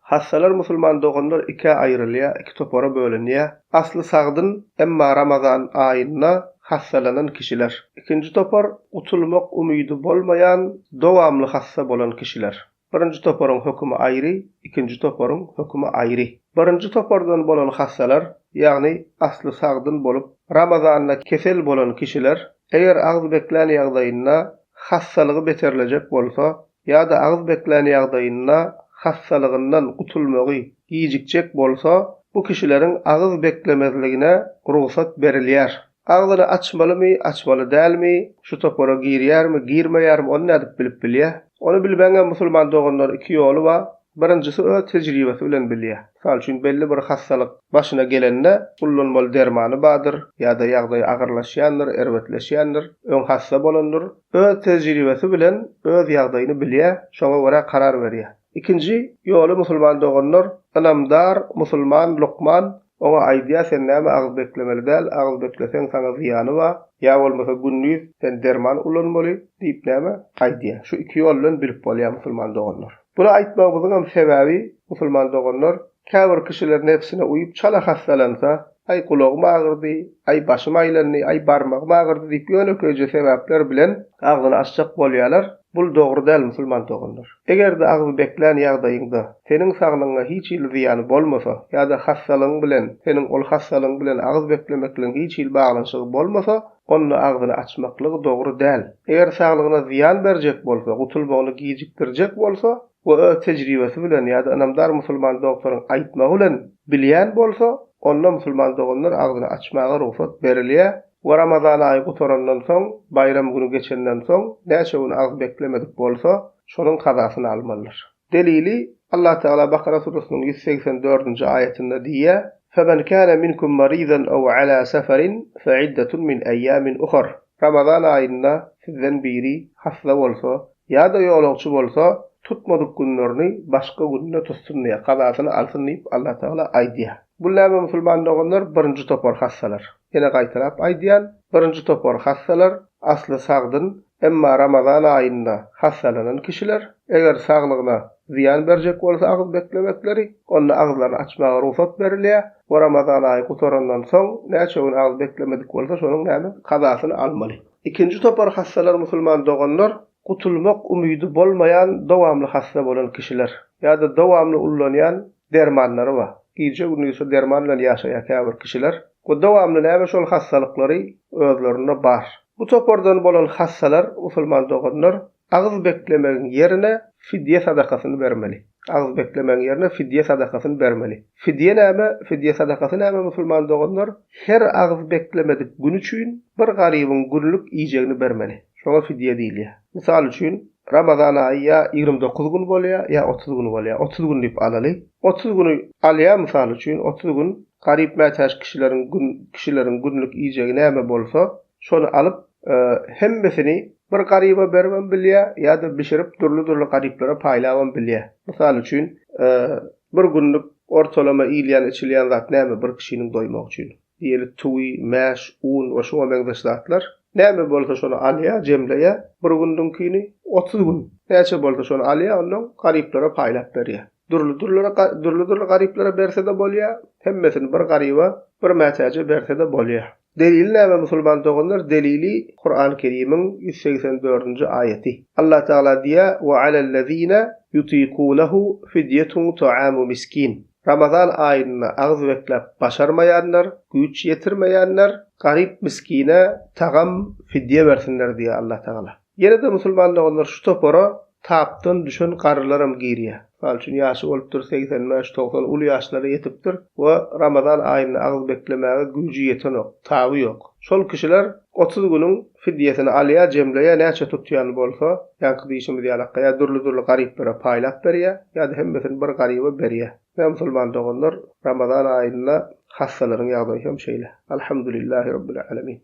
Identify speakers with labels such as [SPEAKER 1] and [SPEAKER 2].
[SPEAKER 1] Hassalar musulman doganlar ikä aýrylýar, iki topara bölünýär. Asly sagdyn, emma Ramazan aýynda hassalanan kişiler. Ikinji topar, gutulmak umydy bolmaýan, dowamly hassa bolan kişiler. Birinji toparyň hökümi aýry, ikinji toparyň hökümi aýry. Birinji topardan bolan hassalar, ýagny asly sagdyn bolup, Ramazanda kesel bolan kişiler, eger agzy beklän ýagdaýynda hassalygy beterlejek bolsa, ýa-da agyz beklän ýagdaýynda hassalygyndan gutulmagy gijikjek bolsa, bu kişileriň agyz beklemezligine rugsat berilýär. Agzyny açmalymy, açmaly dälmi, şu topara girýärmi, girmeýärmi, ony nädip bilip bilýär? Ony bilmegiňem musulman doganlar iki ýoly bar, birinjisi öz tejribesi bilen bilýär. Mysal üçin belli bir hassalyk başyna gelende ullanmaly dermany bardyr ýa-da ýagdaýy agyrlaşýandyr, erbetleşýändir, öň hassa bolandyr, Öz tejribesi bilen öz ýagdaýyny bilýär, şoňa görä karar berýär. Ikinji ýoly musulman doganlar, ynamdar musulman lukman oňa aýdýar sen näme agyz beklemeli däl, agyz bekleseň saňa zyýany bar, ýa bolmasa gündiz sen derman ulanmaly diýip näme aýdýar. Şu iki ýol bilen bilip bolýar musulman doganlar. Bunu aýtmagymyzyňam sebäbi musulman doganlar Käbir kişiler nebsine uýup çala hassalansa, Aý, gulagym agyrdy, aý, başym aýlandy, aý, barmagym agyrdy diýip ýönekeýje sebäpler bilen agzyny açjak bolýarlar. Bul dogry däl musulman doganlar. Eger-de agzy beklän ýagdaýyňda seniň saglygyňa hiç hili zyýany bolmasa ýa-da hassalygyň bilen seniň ol hassalygyň bilen agyz beklemekligiň hiç hili baglanyşygy bolmasa, onda agzyny açmaklygy dogry däl. Eger saglygyna zyýan berjek bolsa, gutulmagyny gijikdirjek bolsa, we öz tejribesi bilen ýa-da ynamdar musulman dogtoryň aýtmagy bilen bilýän bolsa, onda musulman doganlar agzyny açmaga rugsat berilýär we Ramazan aýy gutarandan soň, baýram güni geçenden soň näçe gün agyz beklemedik bolsa, şonuň kazasyny almalydyr. Delili, Allah Tagala Bakara surasynyň ýüz segsen dördünji aýatynda diýýär, Femen kâne minkum marydan ew alâ seferin fe'iddetun min eýâmin uhar, Ramazan aýynda sizden biri hassa bolsa, Ýa-da ýolagçy bolsa, tutmadyk günlerini başga gününe tutsun diýýär, kazasyny alsyn diýip Allatagala aýdýar. Bul näme musulman doganlar birinji topar hassalar. Ýene gaýtalap aýdýan, birinji topar hassalar asly sagdyn, emma Ramazan aýynda hassalanan kişiler, eger saglygyna zyýan berjek bolsa agyz beklemekleri, onda agyzlaryny açmaga rugsat berilýär we Ramazan aýy gutarandan soň näçe gün agyz beklemedik bolsa şonuň näme, kazasyny almaly. Ikinji topar hassalar musulman doganlar, gutulmak umydy bolmaýan dowamly hassa bolan kişiler, ýa-da dowamly ullanýan dermanlary bar, gije-gündiz şu derman bilen ýaşaýan käbir kişiler we dowamly näme şol hassalyklary özlerinde bar. Bu topardan bolan hassalar musulman doganlar, Agyz beklemegiň ýerine fidýe sadakasyny bermeli. Agyz beklemegiň ýerine fidýe sadakasyny bermeli. Fidýe näme? Fidýe sadakasy näme musulman doganlar? Her agyz beklemedik gün üçin bir garybyň günlük iýjegini bermeli. Şoňa fidýe diýilýär. Mysal üçin, Ramazan aýy ýa ýigrimi dokuz gün bolýar, ýa otuz gün bolýar. Otuz gün diýip alaly. Otuz güni alýar mysal üçin, otuz gün garyp mätäç kişileriň kişileriň günlük iýjegi näme bolsa, şony alyp, hemmesini bir garyba beribem bilýär ýa-da bişirip dürli-dürli garyplara paýlabam bilýär. Mysal üçin, bir günlük ortalama iýilýän-içilýän zat näme bir kişiniň doýmagy üçin? Diýeli, tüwi, mäş, un we şuňa meňzeş zatlar. Näme bolsa şony alýar, jemleýär, bir günlüňkini, otuz gün näçe bolsa şony alýar, ondan garyplara paýlap berýär. Dürli-dürlere dürli-dürli garyplara berse-de bolýar, hemmesini bir garyba, bir mätäje berse-de bolýar. Delili näme musulman doganlar? Delili Kurany Kerimiň ýüz segsen dördünji aýaty. Allah Tagala diýýär, Ve alellezine yutikunehu fidyetun tuamu miskin. Ramazan aýynda agyz bekläp başarmaýanlar, güýç ýetirmeýänler garyp miskine tagam, fidýe bersinler diýýär Allah Tagala. Ýene-de musulmanda olar şu topara tapdan düşen garrylaram girýär. Mysal üçin, ýaşy bolupdyr segsen bäş, togsan, uly ýaşlara ýetipdir we Ramazan aýynda agyz beklemäge güýji ýetenok, taby ýok. Şol kişiler otuz günüň fidýesini alýar, jemleýär, näçe tutýan bolsa, ýaňky diýşimiz ýaly akga, ýa dürli-dürli garyplara paýlap berýär, ýa-da hemmesini bir garyba berýär. Ine, musulman doganlar, Ramazan aýynda hassalaryň ýagdaýy hem şeýle. Alhamdulillahi Rabbil Alemin.